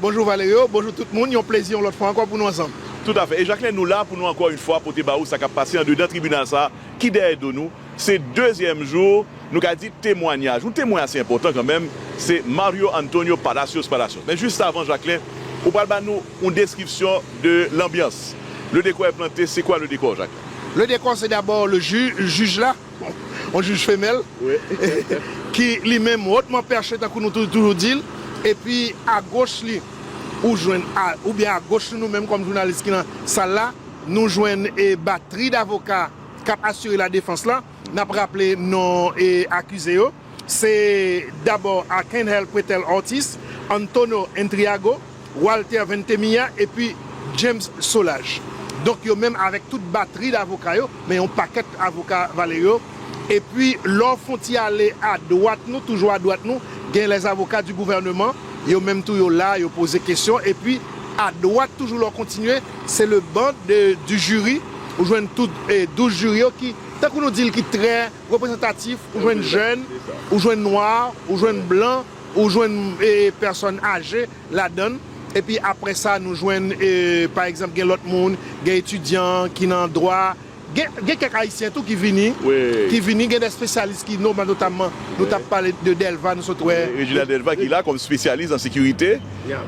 Bonjou Valerio, bonjou tout moun, yon plezi yon lòt fwa ankò pou nou ansanm. Tout afè. E Jacquelin nou la pou nou ankò yn fwa pote ba ou sa kap pase andedan tribinal sa ki dèyè do nou, se dezyèm jou nou ka di temwanyaj yon temwen ase enpòtan kanmenm se Mario Antonio Palacios Palacios. Men jis avan Jacquelin ou pral ba nou yon deskripsyon de lanbyans, le décor est planté, c'est quoi le décor Jacquelin? Le décor c'est d'abord le juge, jij la. yon jij femèl ki li menm hotman perche tankou nou toujou di l epi a goch li ou jwenn oubyen a goch nou nou menm kòm jounalis ki nan sal la nou jwenn e batri davoka k ap asire ladefans la n ap raple non e akize yo se dabò Arcangel Pretel Ortiz Antonio Intriago. Walter Ventemilla epi James Solages. Donk yo menm avèk tout batri davoka yo, men yon pakèt avoka Valerio, epi lè w fon ti ale a dwat nou, toujou a dwat nou, gen les avocats du gouvernement, yo menm tou yo la, yo poze kesyon, epi a dwat toujou lè w kontinye, se le ban de du jury, ou jwenn tout 12 jiri yo ki, tankou nou di l ki trè reprezantatif, ou jwenn jèn, ou jwenn nwa, ou jwenn blan. Ou jwenn pèsòn aje ladan l. Epi apre sa nou jwenn pa egzanp gen lòt moun, gen etidyan ki nan dwa, gen kèk ayisyen tou ki vini, ki vini, gen dè espesyalis ki no notamman nou t ap pale de Dèlva nou sot wè. Reginald Delva ki la kòm espesyalis an sekirite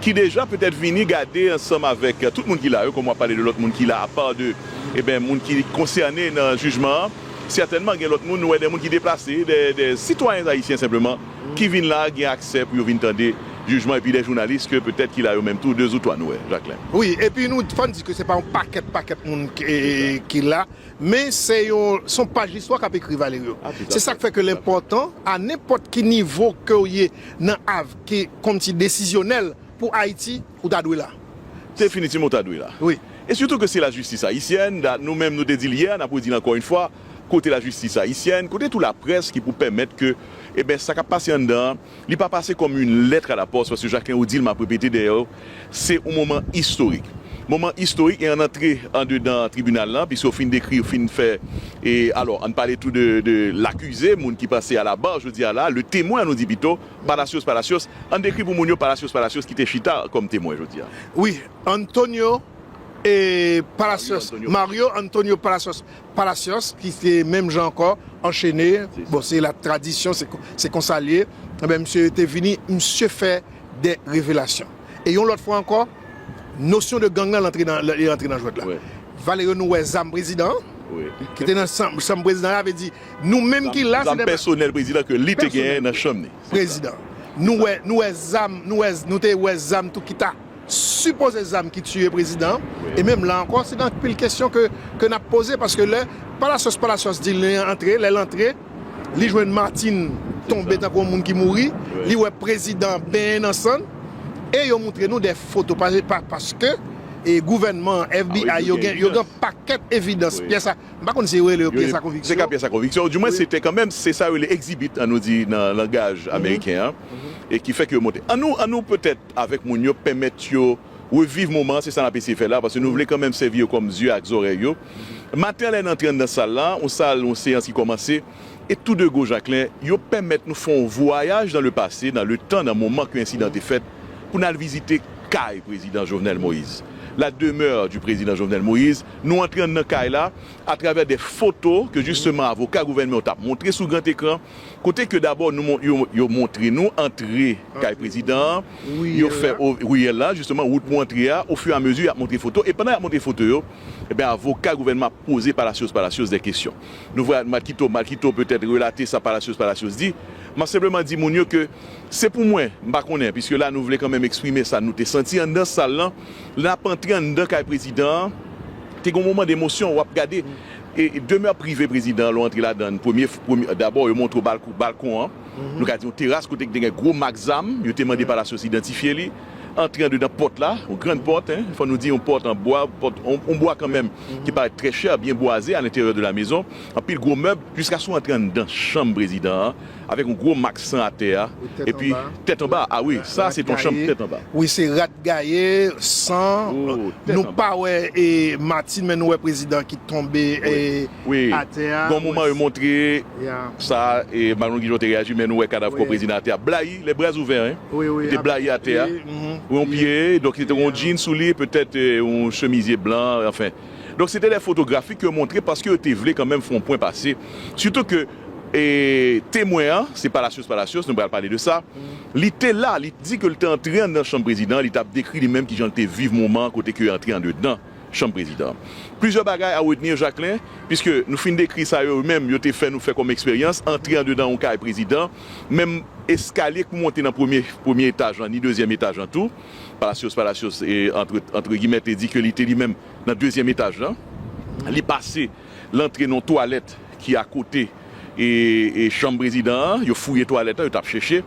ki deja petèt vini gade ansanm avèk tout moun ki la yo kòm w ap pale de lòt moun ki la apa de eben moun ki konsène nan jijman an sètènman gen lòt moun nou wè de moun ki deplase de sitwayen ayisyen senpleman. ki vin la a gen aksè pou yo vin tande jijman epi dè jounalis ke petèt ki la yo menm tou de zou twa nou wè Jacquelin. Wi, epi nou fò n di ke se pa yon pakèt pakèt moun ki la, men se yon son paj listwa k ap ekri Valerio. Se sa k fè ke l enpòtan a nenpòt ki nivo ke w ye nan avk kòmsi desizyonèl pou Ayiti ou ta dwe la. Definitivman ou ta dwe la. Wi. E sitou ke se lajistis ayisyèn, da nou menm nou te di l yè a, n ap redi l ankò yon fwa, kote lajistis ayisyèn, kote tou laprès ki pou pèmèt ke eben sa kap pase anndan an li pa pase kòm yn lètr a la pòs paske Jacquelin ou dil map repete dèyè w se yon moman istorik moman istorik e ann antre andedan tribinal lan piske w fin dekri w fin fè e alò ann pale tou de de lakize moun ki pase a la bar jodi a la le temwen annou di pito Palacios Palacios ann dekri pou moun yo Palacios Palacios ki te chita kòm temwen jodi a. Wi Antonio e Palacios Mario Antonio Palacios Palacios ki se menm jan ankò anchene bon se la tradisyon se konsa l ye ebyen misye te vini misye fè de revelasyon e yon lòt fwa ankò nosyon de gang lan li rantre nan jwèt la Valerio nou wè zam prezidan an ki te nan chanm prezidan an sa vle di nou menm ki la zam pèsonèl prezidan ke li te genyen nan chanm li prezidan nou wè nou wè zam nou te wè zam tou ki ta. Sipoze zam ki tiye prezidan an e menm la ankò se gen anpil kesyon ke nap poze paske lè palasyòs palasyòs di li antre lèl antre li jwenn Martin tonbe tankou yon moun ki mouri li wè prezidan benyen nan sann e yo moutre nou dè foto paske gouvènman an FBI yo gen yo gen yon pakèt evidans pyès a m pa konn si yo rele yo pyès a konviksyon. Se ka pyès a konviksyon ou di mwen se te kanmenm se sa yo rele exhibit an nou di nan langaj ameriken an e ki fè ke yo monte an nou an nou petèt avèk moun yo, pèmèt yo reviv moman an, se sa n ap eseye fè la, paske nou vle kanmenm sèvi yo kòm zye ak zòrèy yo. Maten an lè n antre anndan sal la, yon sal, yon seyans ki kòmanse, e tou de gwo Jaklen, yo pèmèt nou fè yon vwayaj nan le pase, nan le tan, nan moman ke ensidan te fèt, pou n al vizite kay Prezidan Jovenel Moïse, la demeure du Président Jovenel Moïse. Nou antre anndan kay la atravè de foto ke jisteman avoka gouvènman yo t ap montre sou gran ekran, Kote ke dabò nou yo yo montre nou antre kay prezidan an, yo fè o riyèl la jisteman wout pou antre a, o fur a mezi y ap montre foto e pandan y ap montre foto yo ebyen avoka gouvènman ap poze Palacios Palacios dè kesyon. Nou vwa Malkito Malkito petèt relate sa Palacios Palacios di. M ap senpleman di moun yo ke se pou mwen m pa konnen piske la nou vle kanmenm eksprime sa nou te santi anndan sal lan lè n ap antre anndan kay prezidan an te gen w moman de emosyon w ap gade E demè prive prezidan an lè w antre ladan l premye premye dabò yo montre w balko balkon an nou ka di yon teras kote ki te gen gwo mak zam yo te mande Palacios idantifye li antre andedan pòt la yon grann pòt en fò nou di yon pòt an bwa pòt yon bwa kanmenm ki parèt trè chè byen bwaze alenteryè de la mezon anpil gwo mèb jiska sou antre anndan chanm prezidan an Avèk yon gwo mak san atè a. Wi tèt anba. Epi tèt anba a wi sa se ton chanm tèt anba. Wi se rat gaye, san, nou pa wè e Martine men nou wè prezidan ki tonbe e atè a. Gon moman yo montre sa e Marie Louise Guichon te reyaji men nou wè kadav kò prezidan atè a blayi lè bras ouvè hein li te blayi atè a wi yon pye donk li te gon jean sou li petèt yon chemizye blan anfen donk se te lè fotografik yo montre paske yo te vle kanmenm fon pwen pase sitou ke E temwen an, se Palacios Palacios, nou pral pale de sa, li te la, li di ke li te antre anndan chanm prezidan, li tap dekri li menm kijan li te viv moman an kote ke antre andedan chanm prezidan an. Plizyè bagay a retenir Jacquelin, piske nou fin dekri sa yo menm yo te fè nou fè kòm eksperyans, antre andedan yon kay prezidan, menm eskalye k pou monte nan premye premye etaj lan ni dezyèm etaj lan tou, Palacios Palacios antre antre gimè te di ke li te li menm nan dezyèm etaj lan, li pase. lantre nan yon twalèt ki akote chanm prezidan an, yo fouye twalèt lan, yo t ap chèche.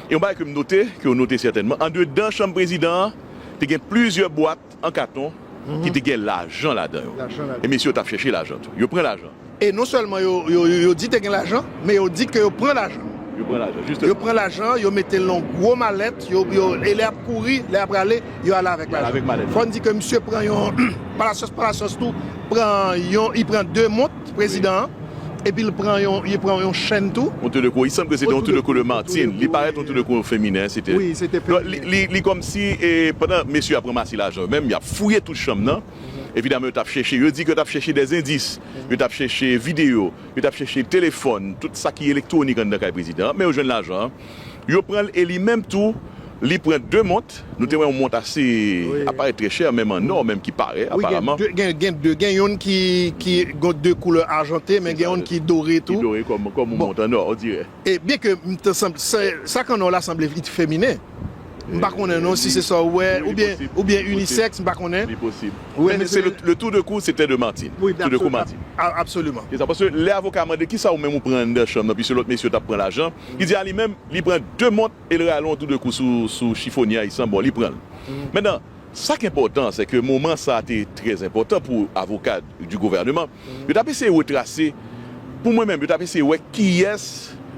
E yon bagay ke m note, ke yo note sètènman, andedan chanm prezidan an, te gen plizyè bwat an katon ki te gen lajan ladan yo. E mesye yo t ap chèche lajan tou. Yo pran lajan. E non sèlman yo di te gen lajan, men yo di ke yo pran lajan. Yo pran lajan, jisteman. Yo pran lajan, yo mete l nan yon gwo malèt, e lè y ap kouri, lè y ap rale, Yo ale avèk lajan. Fò n di ke misye pran yon palasyòs, palasyòs tou pran yon, li pran 2 mont, prezidan an, epi li pran yon, li pran yon chèn tou. Yon tou de kou, il semble ke se te yon tou de kou de Martine, li parèt yon tou de kou feminen, se te. Wi, se te feminen. Donk, li kòmsi, e pandan mesye yo ap ranmase lajan yo menm, y ap fouye tout chanm nan, evidaman yo t ap chèche, yo di ke yo t ap chèche des endis, yo t ap chèche videyo, yo t ap chèche telefòn, tout sa ki elektwonik anndan kay prezidan an, men yo jwenn lajan an. Yo pran l e li menm tou li pran 2 mont, nou te wè yon mont ase, ap parèt trè chè menm an nò menm ki pare aparaman. Wi gen 2, gen 2, gen yonn ki gen 2 koulè ajante men gen yonn ki dore tou. Ki dore kòm yon mont an nò odirè. E byen ke m te sanble, sa k an nò la sanble li t feminen. M pa konnen non si se sa w wè oubyen, oubyen unisèks m pa konnen. Li posib. Men se le tou de kou se tè de Martin. Wi absolument. Absolument. Se sa paske lè avoka a mande kisa ou menm ou pran anndan chanm nan piske lòt mesye t ap pran lajan, Li di a li menm, li pran 2 mont e l rale yon tou de kou sou chifonye a, li san bon, li pran l. Mentnan, sa k enpòtan an, sè ke moman sa a te trè enpòtan pou avoka di gouvèneman, yo t ap eseye retrase, pou mwen menm, yo t ap eseye wè kiyès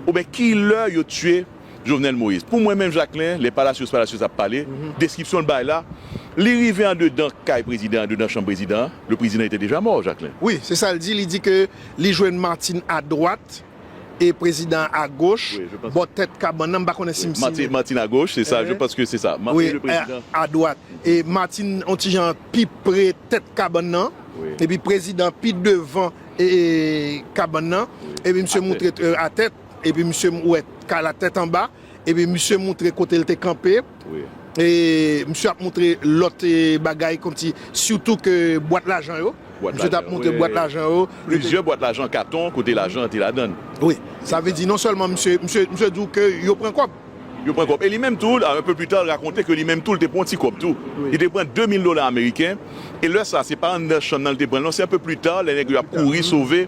oubyen ki lè yo tiye Jovenel Moïse. Pou mwen menm Jacquelin, lè Palacios Palacios ap pale, deskripsyon l bay la, li rive andedan kay prezidan an, andedan chanm prezidan an, le président était déjà mort, Jacquelin. Wi, se sa l di, li di ke li jwenn Martine a dwat. e prezidan a goch, bò tèt kabann nan, m pa konnen si m si. Martine a goch, se sa, je panse ke se sa. Wi, a dwat. E Martine on ti jan pi pre tèt kabann nan, epi prezidan pi devan kabann nan, epi misye moutre a tèt, epi misye m wè kay la tèt anba. Epi misye moutre kote l te kanpe e misye ap moutre lòt bagay kòmsi sitou ke bwat lajan yo. Misye t ap moutre bwat lajan yo. Plizyè bwat lajan katon kote lajan an te ladan l. Wi. Sa vle di non sèlman misye, misye di w ke yo pran kòb. Yo pran kòb. E li menm tou, un peu plus tard, rakonte ke li menm tou l te pran yon ti kòb tou. Li te pran 2000 dola ameriken e lè sa a se pa anndan chanm nan li te pran l non, se un peu plus tard lè nèg yo ap kouri sove,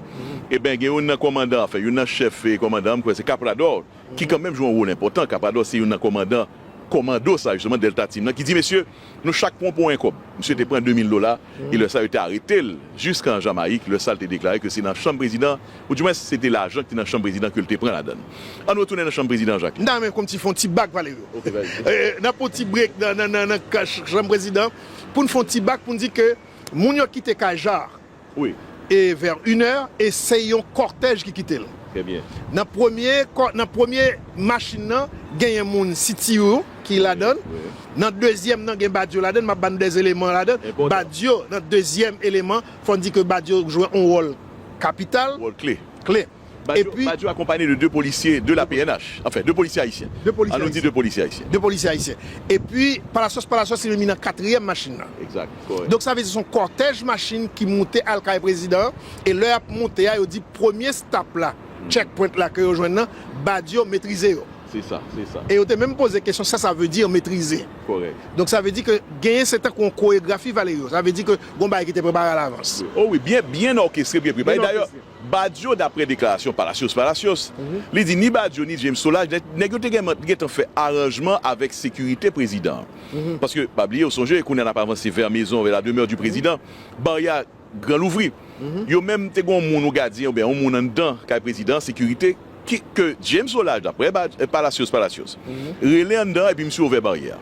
eben gen youn nan kòmandan, anfen youn nan chèf kòmandan an, m kwè se Caprador, ki kanmenm jwe yon wol enpòtan, Kapadò se youn nan kòmandan kòmando sa jisteman Delta Team nan ki di mesye nou chak pran pou 1 kòb. Misye te pran 2000 dola e lè sa yo te arete l jiska an Jamayik, lè sa l te deklare ke se nan chanm prezidan ou di mwens se te lajan ki te nan chanm prezidan ke l te pran ladann. An nou retounen nan chanm prezidan Jacques. Nan men kòmsi fon ti bak Valerio. Nan pran yon ti break nan chanm prezidan pou n fon ti bak pou n di ke moun yo kite kay Jacques. Wi. E vè yn è e se yon kòtèj ki kite l. Trè byen. Nan premye kò nan premye machin nan genyen moun CTU ki ladan l. Wi. Nan dezyèm nan gen Badio ladan l. M ap ba nou dè eleman ladan l. Enpòtan. Badio nan dezyèm eleman fò n di ke Badio jwe yon wòl kapital. Wòl kle. Kle. Badio akonpanye de 2 polisye de la pnh, anfen 2 polisye ayisyen, an nou di 2 polisye ayisyen. 2 polisye ayisyen. Epi Palacios Palacios li menm li nan katriyèm machin nan. Exact, kòrèk. Donk sa vle di se yon kòtèj machin ki moute al kay prezidan an, e lè y ap moute a yo di premye stop la, check point la ke yo jwenn nan, Badio metrize yo. Se sa, se sa. E yo te menm poze kesyon sa sa vle di metrize. Kòrèk. Donk sa vle di ke genyen se tankou yon koregrafi Valerio. Sa vle di ke gon bagay ki te prepare alavans. O wi, byen, byen òkestre, byen prepare. Dayè. Badio daprè deklarasyon Palacios Palacios li di ni Badio ni James Solage nèg yo te gentan fè aranjman avèk sekirite prezidan an paske pa bliye ou sonje kounya nap avanse vè mezon vè la demeur du prezidan baryè a gran louvri yo menm te gon moun yon gadyen oubyen yon moun anndan kay prezidan an sekirite ke James Solage la, prè Palacios Palacios, rele anndan epi misye ouvè baryè a.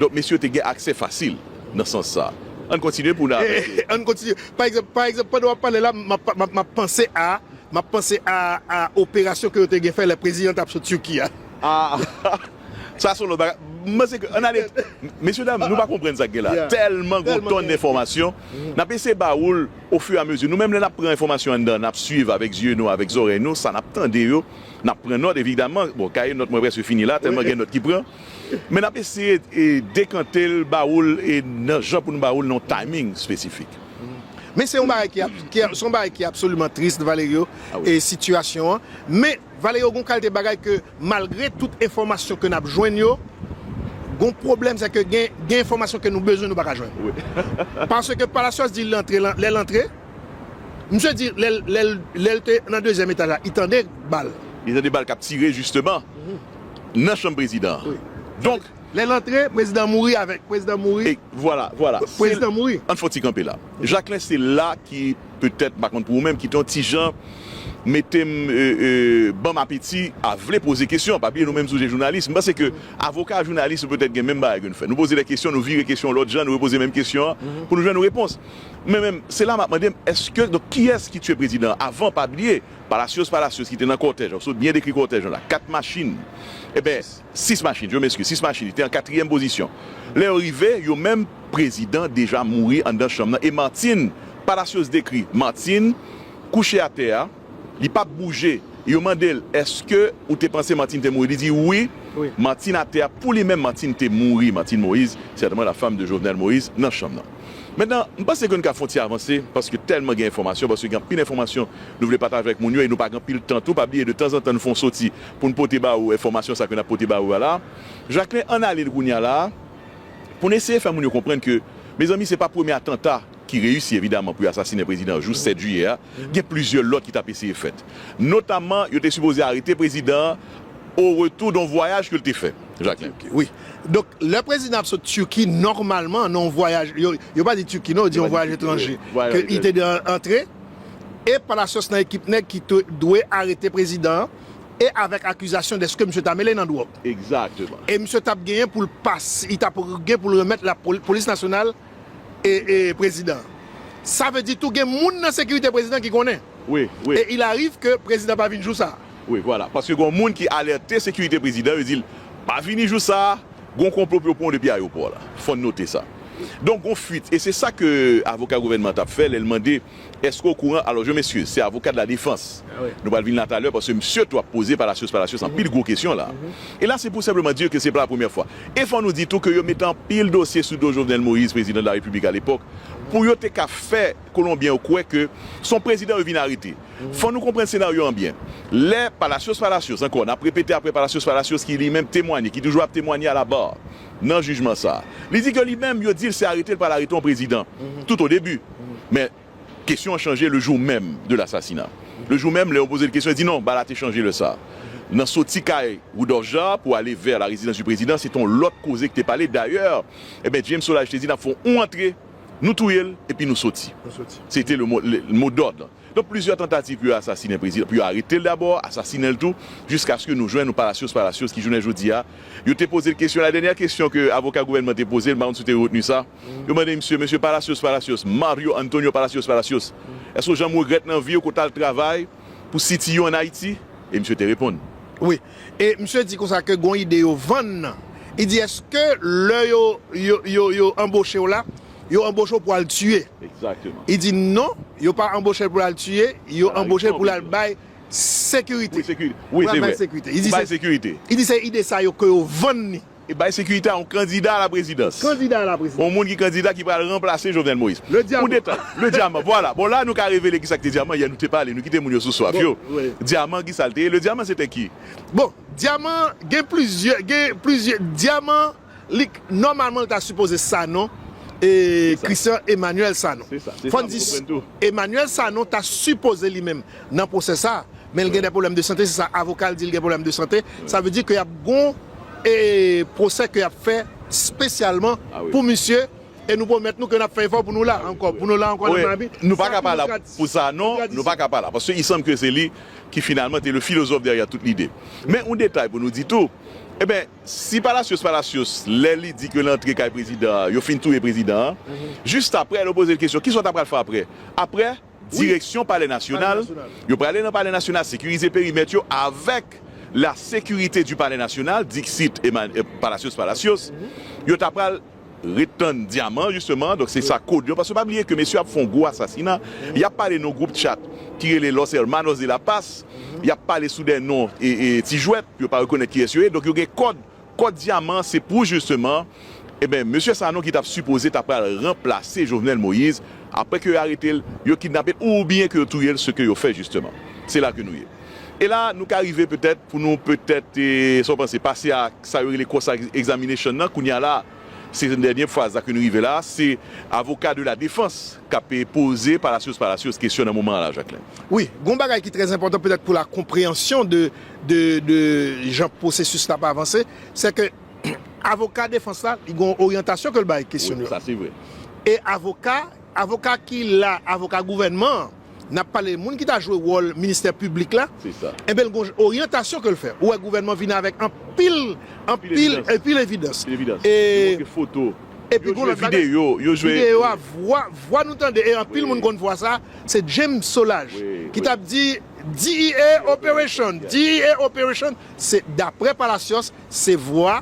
Donk mesye te gen aksè fasil nan sans sa a. Ann kontinye pou n avanse. An n kontinye. Pa egzanp, pa egzanp, pandan w ap pale la, m ap, m ap, m ap panse a, m ap panse a, a operasyon ke yo te gen fè lè prezidan an t ap sot Turquie a. A, Sa son lòt bagay. M panse ke ann ale Mesye dam nou pa konprann sa k gen la. Tèlman gon tòn enfòmasyon. N ap eseye ba ou l ofiramezi. Nou menm lè n ap pran enfòmasyon anndan, n ap suiv avèk zye nou, avèk zòrèy nou sa n ap tande yo. N ap pran nòt evidaman. Bon kaye nòt mwen prèske fini la tèlman gen nòt ki pran. Men n ap eseye dekante l ba ou l e nan jan pou nou ba ou l nan yon timing espesifik. Men se yon bagay ki ap, se yon bagay ki absoliman tris Valerio, sitiyasyon an. Men. Vale yo gon kalte bagay ke malgre tout enfòmasyon ke nap jwenn yo, gon pwoblèm se ke gen gen enfòmasyon ke nou bezwen nou pa ka jwenn. Paske Palacios di li antre lan lèl antre, misye di lèl lèl lèl te nan dezyèm etaj la li tande bal. Li tande bal kap tire jisteman nan chanm prezidan an. Donk. Lèl antre prezidan mouri avèk prezidan mouri. Vwala vwala. Prezidan mouri. Ann fon ti kanpe la. Jaklen se la ki. Petèt, m pa konn pou ou menm, ki te yon ti jan mete m, ban m apeti a vle poze kesyon. Pa bliye nou menm tou se jounalis. M panse ke avoka ak jounalis nou petèt gen menm bagay ke nou fè. Nou poze de kesyon, nou vire kesyon yon lòt jan, nou repoze menm kesyon an pou nou jwenn yon repons. Men menm, se la m ap mande m, èske, donk, kiyès ki tiye prezidan an? Avan, pa bliye, Palacios Palacios ki te nan kòtèj la, ou sot byen dekri kòtèj lan la, 4 machin, enben, Sis machin, je m'excuse, sis machin li te an katriyèm pozisyon. Lè yo rive, yo menm, prezidan deja mouri anndan chanm nan e Martine, Palacios dekri Martine kouche atè a, li pa p bouje e yo mande l èske ou te panse Martine te mouri, li di wi, Martine atè a, pou li menm Martine te mouri, Martine Moïse, sètèman la fam de Jovenel Moïse, nan chanm nan. Mentnan, m panse ke nou ka fè yon ti avanse paske tèlman gen enfòmasyon, paske gen anpil enfòmasyon nou vle pataje avèk moun yo e nou pa gen anpil tan tou, pa bliye de tanzantan nou fè yon soti pou n pote ba ou enfòmasyon sa ke n ap pote ba ou a la. Jacquelin ann ale n kounye a la a pou n eseye fè moun yo konprann ke mezanmi se pa premye atanta ki reyisi evidaman pou yo asasinen prezidan jou 7 jiyè a. Gen plizyè lòt ki t ap eseye fèt. Notamman yo te sipoze arete prezidan an o retou don vwayaj ke l te fè Jacquelin. Turquie wi. Donk lè prezidan ap sot Turquie nòmalman nan yon vwayaj, yo pa di Turquie non, yo di yon vwayaj etranje, ke li te dwe antre e palacios nan ekip nèg ki te dwe arete prezidan an e avèk akizasyon deske misye ta mele nan dwòg. Exactement. E misye tap genyen pou l pas, li tap gen pou l remèt la polis nasyonal e e prezidan. Sa vle di tou gen moun nan sekirite prezidan ki konnen. Wi, wi. E il arrive ke prezidan pa vin jou sa a. Wi, vwala. Paske gon moun ki alète sekirite prezidan, yo di l pa vini jou sa a, gon konplo pou yo pran w depi ayewopò la. Fò n note sa. Donk gon fuit. E se sa ke avoka gouvènman an tap fè lè l mande Eske ou kouran alò jwen mesye se avoka de la defans nou pral vin la talè paske msye tou ap poze palacios palacios anpil gwo kesyon la e la se pou senpleman di yo ke se pa la premyè fwa e fò nou di tou ke yo mete anpil dosye sou do Jovenel Moïse prezidan de la repiblik a lepòk pou yo te ka fè kolonbyen yo kwè ke son prezidan yo vin arete fò nou konprann senaryo an byen lè palacios palacios ankò nap repete aprè palacios palacios ki li menm temwanye ki toujou ap temwanye a la barre. nan jijman sa a. Li di ke li menm yo di l se arete l pral arete yon prezidan tout o debi. Men kesyon an chanje le jou menm de lasasina. Le jou menm lè yo poze l kesyon li di non bala te chanje lè sa. Nan soti kay Rudolphe Jaar pou ale vè la rezidans di prezidan se te yon lòt koze ki te pale. Dayè eben James Solages te di n ap fè yon antre nou touye l epi nou soti. Se te le mo dòd. Donk plizyè tantativ pou yo asasinen prezidan, pou yo arete l dabò, asasinen l tou, jiskaske nou jwenn yon Palacios Palacios ki jounen jodi a, yo te poze l kesyon, la dènyè kesyon ke avoka gouvènman te poze l, m pa konn si w te retni sa, yo mande misye, Mesye Palacios Palacios, Mario Antonio Palacios Palacios, èske w janm regrèt nan vi w ke w t al travay pou CTU an Ayiti? E misye te reponn. Wi. E misye di konsa ke gon ide yo vann nan. Li di, èske lè yo, yo, yo, yo anboche w la, yo anboche w pou al tiye. Li di non, yo pa anboche l pou l al tiye, yo anboche l pou l al bay sekirite. Pou l al bay sekirite. Li di se ide sa yo ke yo vann li. E bay sekirite a yon kandida a la prezidans. Yon moun ki kandida ki pral ranplase Jovenel Moïse. Le Diaman. Le Diaman, vwala. Bon la nou ka revele kisa ki te Diaman, yè nou te pale, nou kite moun yo sou swaf yo. Diaman kisa l te ye? Le Diaman se te ki? Bon, Diaman gen plizyè, gen plizyè, Diaman. Lik nòmalman l ta sipoze Sanon e Christian Emmanuel Sanon. Fò n di Emmanuel Sanon ta sipoze li menm nan pwosè sa a men l gen dè pwoblèm de sante se sa avoka l di l gen pwoblèm de sante sa vle di ke y ap gon e pwosè ke y ap fè spesyalman pou misye e nou pwomèt nou ke n ap fè efò pou nou la ankò pou nou la ankò nan Miami Nou pa ka pa la pou Sanon nou pa ka pa la paske i sanm ke se li ki finalman te le philosophe derrière toute l'idée men yon detay pou nou di tou e ben Si Palacios Palacios lè li di ke l antre kay prezidan an yo fin touye prezidan an, jis aprè yo poze l kesyon kisa w ta pral fè aprè? Aprè, direksyon palè nasyonal, yo prale nan palè nasyonal sekirize perimèt yo avèk la securite du palais national, dixit Palacios Palacios, yo ta pral. Ret tann diaman justement donk se sa kod yo paske pa bliye ke mesye ap fon gwo asasina yap pale non group chat ki rele los hermanos de la paz yap pale sou dè non ti jwèt yo pa rekonèt kiyès yo ye donk yo gen kòd kòd diaman se pou justement ebyen mesye sanon ki tap sipoze ta pral ranplase jovenel moïse aprè ke yo aretel yo kidnapel oubyen ke yo touyel seke yo fè justement se la ke nou ye. E la nou ka rive petèt pou nou petèt, sa w panse, pase a sa yo rele cross examination nan kounye a la a. Se dènye faz la ke nou rive la a, se avoka de la defans k ap poze Palacios Palacios kesyon nan moman an la a, Jacquelin. Wi, gen yon bagay ki trè enpòtan petèt pou la konpreyansyon de jan pwosesis la ap avanse, se ke avoka defans la, li gen yon oryantasyon ke l bay kesyon yo. Wi, sa se vre. E avoka, avoka ki la, avoka gouvènman an. n ap pale moun ki ta jwe wòl ministè piblik la, enben l gen yon oryantasyon ke l fè. Ou wè gouvènman vini avèk anpil, anpil, anpil evidans. E, epi gen yon lòt bagay, videyo a, vwa, vwa nou tande, e anpil moun konn vwa sa, se James Solaj ki t ap di, DEA operation, DEA operation, se daprè Palacios, se vwa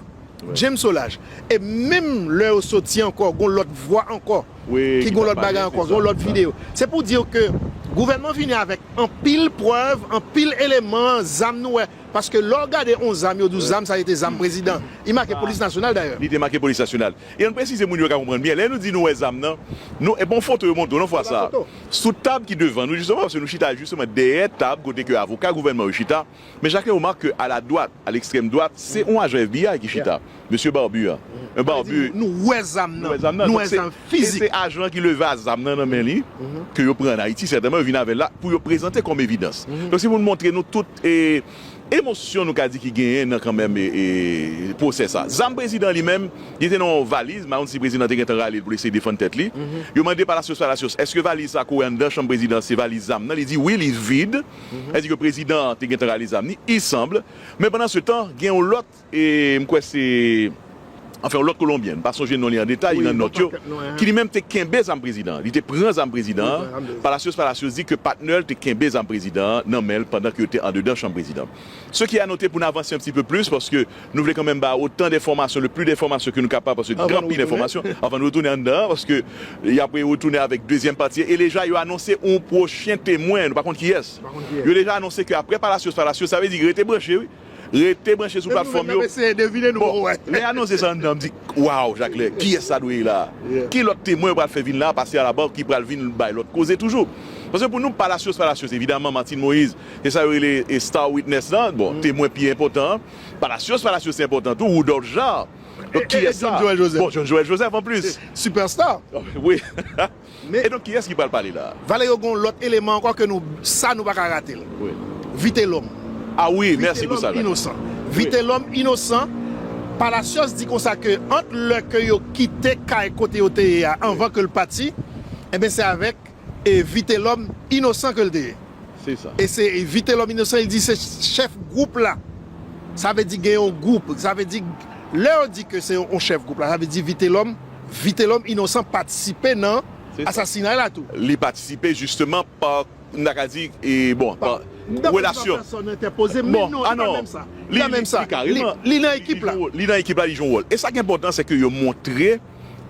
James Solage e menm lè yo soti ankò gon lòt vwa ankò ki gon lòt bagay ankò gon lòt video se pou diw ke gouvènman vini avèk anpil prèv anpil eleman zam nou wè paske lè w gade on zam yo di w zam sa rete zam prezidan li make polis nasyonal dayè. Li te make polis nasyonal e ann presize moun yo ka konprann byen lè nou di nou wè zam nan nou epi on foto yo montre w nan fwa sa sou tab ki devan nou jisteman paske nou chita jisteman dèyè tab kote ke avoka gouvènman yo chita. Men chacun remarque que à la droite, à l'extrême droite, c'est un agent FBI ki chita. Monsieur Barbu a. Un Barbu. Sa vle di nou wè zam nan. Nou wè zam nan. Nou wè zam fizik. Se ajan ki leve a zam nan nan men li, ke yo pran an Ayiti sètèman, yo vin avè l la pou yo prezante kòm evidans. Donk se pou nou montre nou tout e emosyon nou ka di ki genyen nan kanmenm e pwosè sa. Zam prezidan li menm, li te nan yon valiz, m pa konn si prezidan te gentan rale l pou l eseye defann tèt li. Yo mande Palacios, Palacios, èske valiz sa kore anndan chanm prezidan se valiz zam nan? Li di wi, li vid. Èske ke prezidan an te gentan rale zam ni? Il semble. Men pandan se tan, gen yon lòt, e m kwè se, anfen yon lòt kolonbyen, m pa sonje non li an detay, li nan nòt yo, ki li menm te kenbe zam prezidan an. Li te pran zam prezidan an. Palacios Palacios di ke patnè l te kenbe zam prezidan an nan men l pandan ke yo te andedan chanm prezidan. Ce qui a noter pou n avanse un petit peu plus paske Nou vle kanmenm ba otan denfòmasyon, le pli denfòmasyon ke nou kapab paske gen anpil enfòmasyon avan nou retounen anndan an paske y ap retounen avèk dezyèm pati e deja yo anonse yon pwochen temwen nou pa konn kiyès yo deja anonse ke aprè Palacios Palacios sa vle di rete branche wi rete branche sou platfòm yo bon lè y anonse sa anndan an m di waw Jaclè kiyès sa dwe ye la a ki lòt temwen yo pral fè vin la a pase Alabò ki pral vin bay lòt koze toujou paske pou nou Palacios Palacios evidaman Martine Moïse se sa yo rele star witness lan bon temwen pi enpòtan an. Palacios Palacios se enpòtan tou Woudòlf Jan Donk kiyès sa Bon John Joel Joseph anplis Superstar Wi E donk kiyès ki pral pale la a Valerio Gon lòt eleman ankò ke nou sa nou pa ka rate l Vitelòm A wi mèsi pou sa Vitelòm inosan Vitelòm inosan Palacios di konsa ke ant lè ke yo kite kay kote yo te ye a anvan ke l pati Enben se avèk. e Vitelòm inosan ke l te ye. Se sa. E se Vitelòm inosan li di se chèf gwoup la. Sa vle di gen yon gwoup. Sa vle di lè yo di ke se yon chèf gwoup la, sa vle di Vitelòm, Vitelòm inosan patisipe nan asasinay la tou. Li patisipe jisteman pa, m ta ka di, e bon, pa relasyon. Dapre sa pèsòn entèpoze, men non, li pa menm sa. Li pa menm sa. Li kareman. Li nan ekip la. Li nan ekip la, li jwe yon wòl. E sa ki enpòtan se ke yo montre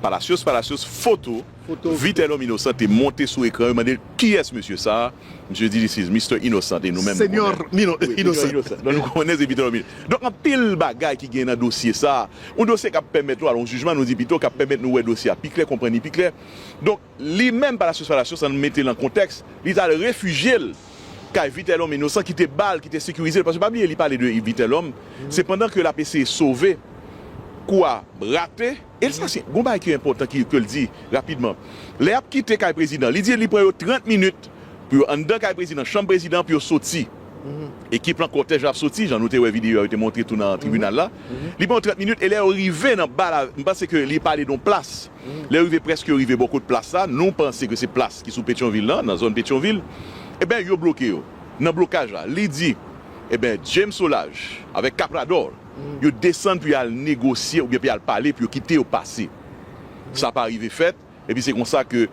Palacios, Palacios foto. Vitelhomme Innocent te monte sou ekran yo mande l kiyès mesye sa a, misye di this is Mister Innocent e nou menm nou konnen. Señor Innocent. Donk nou konnen se Vitelhomme Innocent. Donk anpil bagay ki gen nan dosye sa a, yon dosye k ap pèmèt nou al yon jijman nou di pito, k ap pèmèt nou wè dosye a pi klè, konprann li pi klè. Donk li menm Palacios Palacios an nou mete l an kontèks, li t al refijye l kay Vitelhomme Innocent ki te ba l, ki te sekirize l paske pa bliye li pale de Vitelhomme se pandan ke l ap eseye sove kou a rate. Elsa se gon bagay ki enpòtan ki ke l di rapidman. Lè y ap kite kay prezidan, li di li pran yo 30 minit pou yo anndan kay prezidan, chanm prezidan an pou yo soti. Ekip lan, kòtèj la ap soti, jan nou te wè videyo a yo te montre tou nan tribinal la. Li pran yo 30 minit e lè yo rive nan bal a, m panse ke li pale de yon plas. Lè yo rive, prèske yo rive bò kot plas la, nou panse ke se plas ki sou Petyonvil lan, nan zòn Petyonvil, eben yo bloke yo. Nan blokaj la, li di, eben James Solage avèk Caprador, yo desann pou yo al negosye oubyen pou yo al pale pou yo kite yo pase. Sa pa rive fèt, epi se konsa ke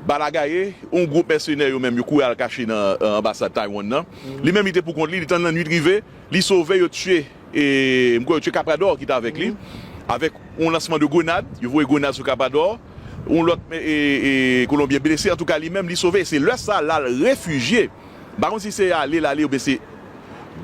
bala gaye, yon gwoup mèsenè yo menm yo kouri al kache nan anbasad Taiwan nan. Li menm li te pou kont li, li tann lannuit rive, li sove, yo tiye, m kwè yo tiye Caprador ki te avèk li, avèk yon lansman de grenad, yo voye grenad sou Caprador, yon lòt kolonbyen blese, antouka li menm li sove, e se lè sa lal refijye. M pa konn si se ale l ale oubyen se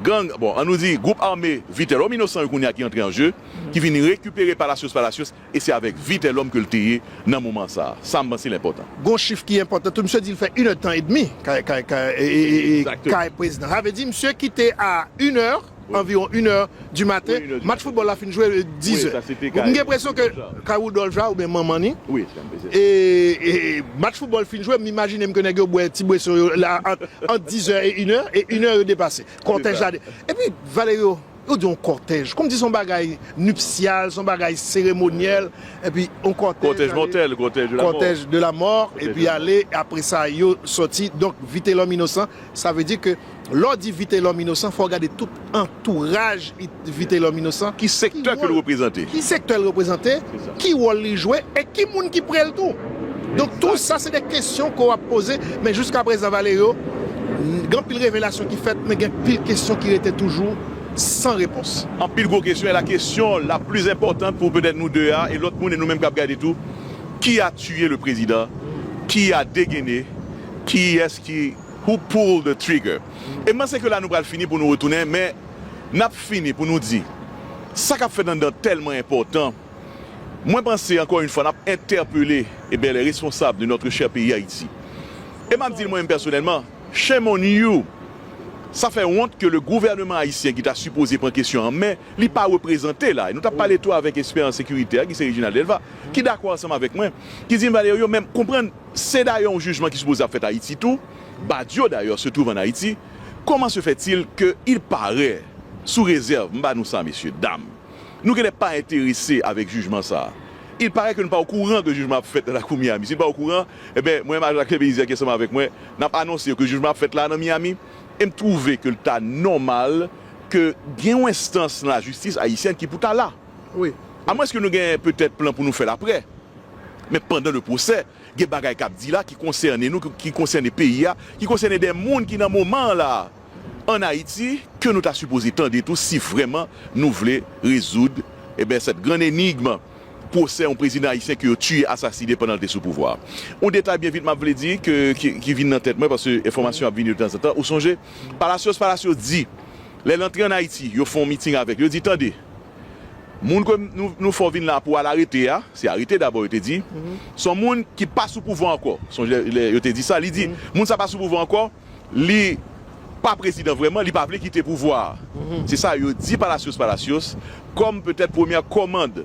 gang, bon an nou di gwoup ame Vitelhomme Innocent yo kounya ki antre an je, ki vin rekipere Palacios Palacios e se avèk Vitelhomme ke l te ye nan moman sa a. Sa m panse l enpòtan. Gon chif ki enpòtan tou, misye di l fè inèdtan edmi kay Exactement. Prezidan. Sa vle di misye kite a inè. anviwon inè di maten, match foutbòl la fin jwe dizè. M gen presyon ke kay Woudòlf la oubyen manman li, e match foutbòl fin jwe, m imajine m ke nèg yo bwè ti bweson yo la ant dizè e inè, e inè yo depase. Kòtèj la de. Epi Valerio, ou di yon kòtèj, kòmsi se yon bagay nipsyal, se yon bagay seremonyèl, epi yon kòtèj ale. Kòtèj mòtèl, kòtèj de la mò. Kòtèj de la mò, epi ale, apresa yo sòti. Donk, Vitelòm inosan, sa vle di ke. Lè w di Vitelòm inosan, fò w gade tout antouraj Vitelòm inosan. Ki sektè ke l reprezante? Ki sektè l reprezante? Ki wòl li jwe? E ki moun ki pre l tou? Donk tou sa se de kesyon ke w ap poze, men jouskaprezan Valerio, gen anpil revelasyon ki fèt, men gen anpil kesyon ki rete toujou san repons. Anpil gwo kesyon, e la kesyon la plis enpòtant pou petèt nou de a, e lòt moun, e nou menm k ap gade tou, ki a tiye le prezidan? Ki a degene? Kiyès ki. Who pull the trigger? E m panse ke la nou pral fini pou nou retounen men n ap fini pou nou di sa k ap fèt anndan tèlman enpòtan. Mwen panse ankò yon fwa n ap entèpele e bè lè responsab de notre chère peyi Ayiti. E m ap di l mwen menm pèsonèlman, shame on you! Sa fè wont ke le gouvèneman ayisyen ki ta sipoze pran kesyon an men, li pa reprezante la. E nou t ap pale tou avèk ekspè an sekirite a ki se Reginald Delva ki dakò ansanm avèk mwen ki di m Valerio men m konprann Se dayè yon jijman ki sipoze ap fèt Ayiti tou, Badio dayè se twouv an Ayiti, koman se fè til ke il parè, sou rezèv, m ba nou sa mesye, dam, nou genlè pa enterese avèk jijman sa, il parè ke nou pa okouran ke jijman ap fèt nan lakou Miami, si nou pa okouran, enben mwen menm ak Jacques Belizaire ki ansanm avèk mwen, n ap anonse yo ke jijman ap fèt la nan Miami, e m twouve ke l ta nòmal ke gen yon enstans nan lajistis Ayisyèn ki pou ta la. Amwenske nou gen petèt plan pou nou fè l aprè. Men pandan le pwosè, gen bagay k ap di la ki konsène nou, ki konsène peyi a, ki konsène de moun ki nan moman an la a ann Ayiti ke nou ta sipoze tande tou si vrèman nou vle rezoud eben sèt grann enigm pwosè yon prezidan ayisyen ke yo tiye, asasine pandan l te sou pouvwa a. Yon detay byen vit m ap vle di ke ki vin nan tèt mwen paske enfòmasyon ap vini de tanzantan. Ou sonje Palacios Palacios di lè l antre ann Ayiti yo fè yon meeting avèk li, yo di tande, Moun ke nou fè w vin la a pou w al arete a, se arete dabò yo te di, se yon moun ki pa sou pouvwa ankò. Sonje lè yo te di sa, li di, moun sa pa sou pouvwa ankò, li pa prezidan vrèman, li pa vle kite pouvwa a. Se sa yo di Palacios Palacios kòm petèt premyè kòmand.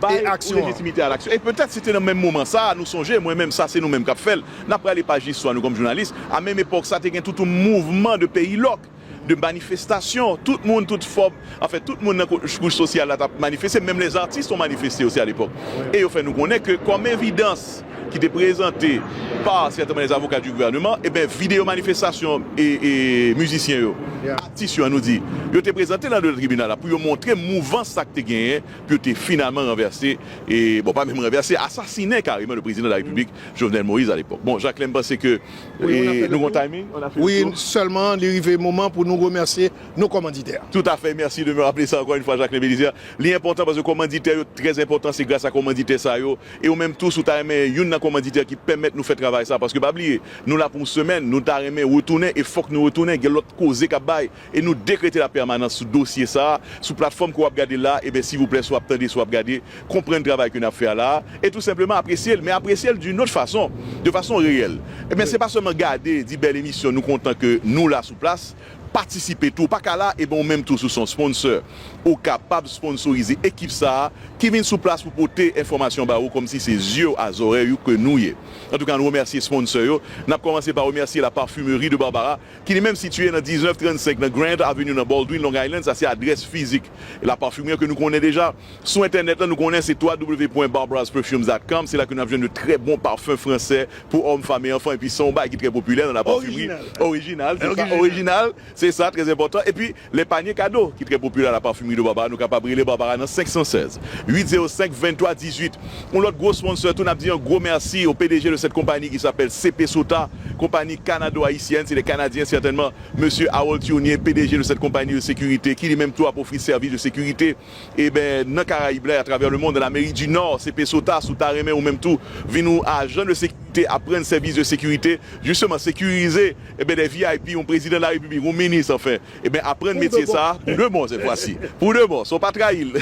Bay ou lejitimite a laksyon. E petèt se te nan menm moman sa a, nou sonje, mwen menm sa se nou menm k ap fè l, n ap rale paj listwa nou kòm jounalis, a menm epòk sa te gen tout yon mouvman de peyi lòk, de manifestasyon, tout moun, tout fòm, anfen tout moun nan kouch sosyal la t ap manifeste, menm lèzatis t on manifeste osi alepòk. E yo fè nou konnen ke kòm evidans ki te prezante pa sètenman lèzavoka di gouvèneman, eben videyo manifestasyon e mizisyen yo, atis yo an nou di, yo te prezante l andedan tribinal la pou yo montre mouvans sa k te genyen, pou yo te finalman ranvèse, bon pa menm ranvèse, asasinen kareman le prezidan de la repiblik Jovenel Moïse alepòk. Bon Jacques lè m panse ke nou gon timing, on a fait le tour. Wi sèlman li rive moman pou nou remèsye nou kòmanditè. Tout afè, mèsi de me rappeler sa ankò yn fwa Jacquelin Belizaire. Li enpòtan paske kòmanditè yo trè enpòtan, se gras a kòmanditè sa yo e ou menm tou si w ta renmen youn nan kòmanditè ki pèmèt nou fè travay sa paske pa bliye nou la pou yon semèn, nou ta renmen retounen e fòk nou retounen gen lòt koze k ap bay. e nou dekrete la pèmanans sou dosye sa a sou platfòm ke w ap gade la a, eben sivouplè si w ap tande, si w ap gade, konprann travay ke n ap fè a la a, e tou senpleman apresye l, men apresye l d'une autre façon, de façon reyèl. Eben se pa sèlman gade, di bèl emisyon, nou kontan ke nou la sou plas, patisipe tou, ou pa ka la, eben ou menm tou si w se yon sponsor, ou kapab sponsorize ekip sa a ki vin sou plas pou pote enfòmasyon ba ou kòm si se zye w a zòrèy ou ke nou ye. Antouka nou remèsye sponsor yo, n ap kòmanse pa remèsye la Parfumerie de Barbara ki li menm sitiye nan 1935 nan Grand Avenue nan Baldwin, Long Island, sa se adrès fizik La Parfumerie an ke nou konnen deja. Sou entènèt la nou konnen se www.barbarasperfumes.com, se la ke nap jwenn de trè bon parfum fransè pou hommes, femmes et enfants epi se yon bagay ki trè popilè nan La Parfumerie, orijinal se sa, orijinal se sa, trè enpòtan epi. Lè panye kado, ki trè popilè a la Parfumerie de Barbara, nou kapab rele Barbara nan 516 805 23 18. Yon lòt gwo sponsor tou, n ap di yon gwo mèsi au pdg de cette compagnie qui s'appelle CP Sota, konpani kanado-ayisyèn, se de Kanadyen sètènman, Mesye Harold Turnier, pdg de cette compagnie de sécurité, ki li menm tou ap ofri sèvis de sekirite, eben, nan Karayib la e atravè le mond, an Amerik di Nò, CP Sota, si w ta renmen ou menm tou vin yon ajan de sekirite, aprann sèvis de sekirite, jisteman sekirize. Ebyen des vip yon prezidan la repiblik yon minis anfen ebyen aprann metye sa pou de bon sèt fwasi pou de bon so pa trayil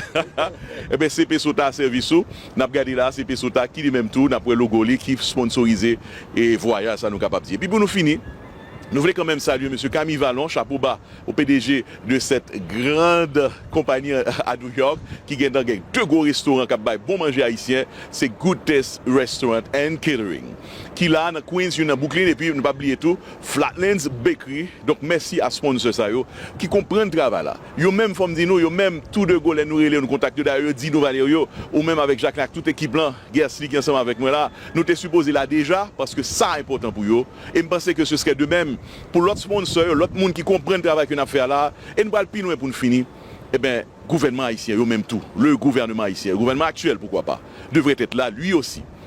ebyen se pe sota sèvis ou nap gade la se pe sota ki li menm tou nap wè logo li ki sponsorize e vwayaj sa nou kapab di epi pou nou fini nou vle kanmenm salye mesye Camille Vallon chapo ba ou pdg de sèt grand konpani a New York ki gendan gen de gwo restoran kap bay bon manje ayisyen se Good Taste Restaurant and Catering. ki la nan Queens, youn nan Brooklyn epi nou pa bliye tou Flatlands Bakery. Donk mèsi a sponsor sa yo ki konprann travay la. Yo menm fò m di nou, yo menm tou de go lè nou rele yo nou kontakte yo. Dayè yo di nou Valerio, ou menm avèk Jacquelin ak tout ekip lan, Guercely ki ansanm avèk mwen la, nou te sipoze la deja paske sa enpòtan pou yo e m panse ke se serè de mèm pou lòt sponsor yo, lòt moun ki konprann travay ke n ap fè a la e n pral pi lwen pou n fini. Enben gouvènman ayisyen yo menm tou, le gouvernement haïtien, gouvènman aktyèl poukwa pa, devrait être là lui aussi.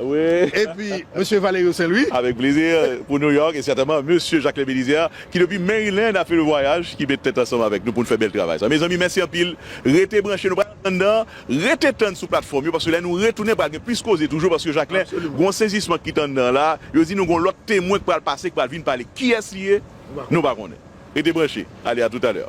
Epi Mesye Valerio Saint Louis. Avèk plezi pou New York e sètèman Mesye Jacques-Claire Belizaire ki depi Maryland ap fè le vwayaj ki met tèt ansanm avèk nou pou n fè bèl travay sa. Mezanmi mèsi anpil. Rete branche nou pral antann nan. Rete tann sou platfòm yo paske lè nou retounen pral gen plis koze toujou paske Jacques-Claire gen yon sezisman k pit anndan la. Yo di nou gen yon lòt temwen k pral pase k pral vin pale. Kiyès li ye? Nou pa konnen. Rete branche. Ale a toutalè.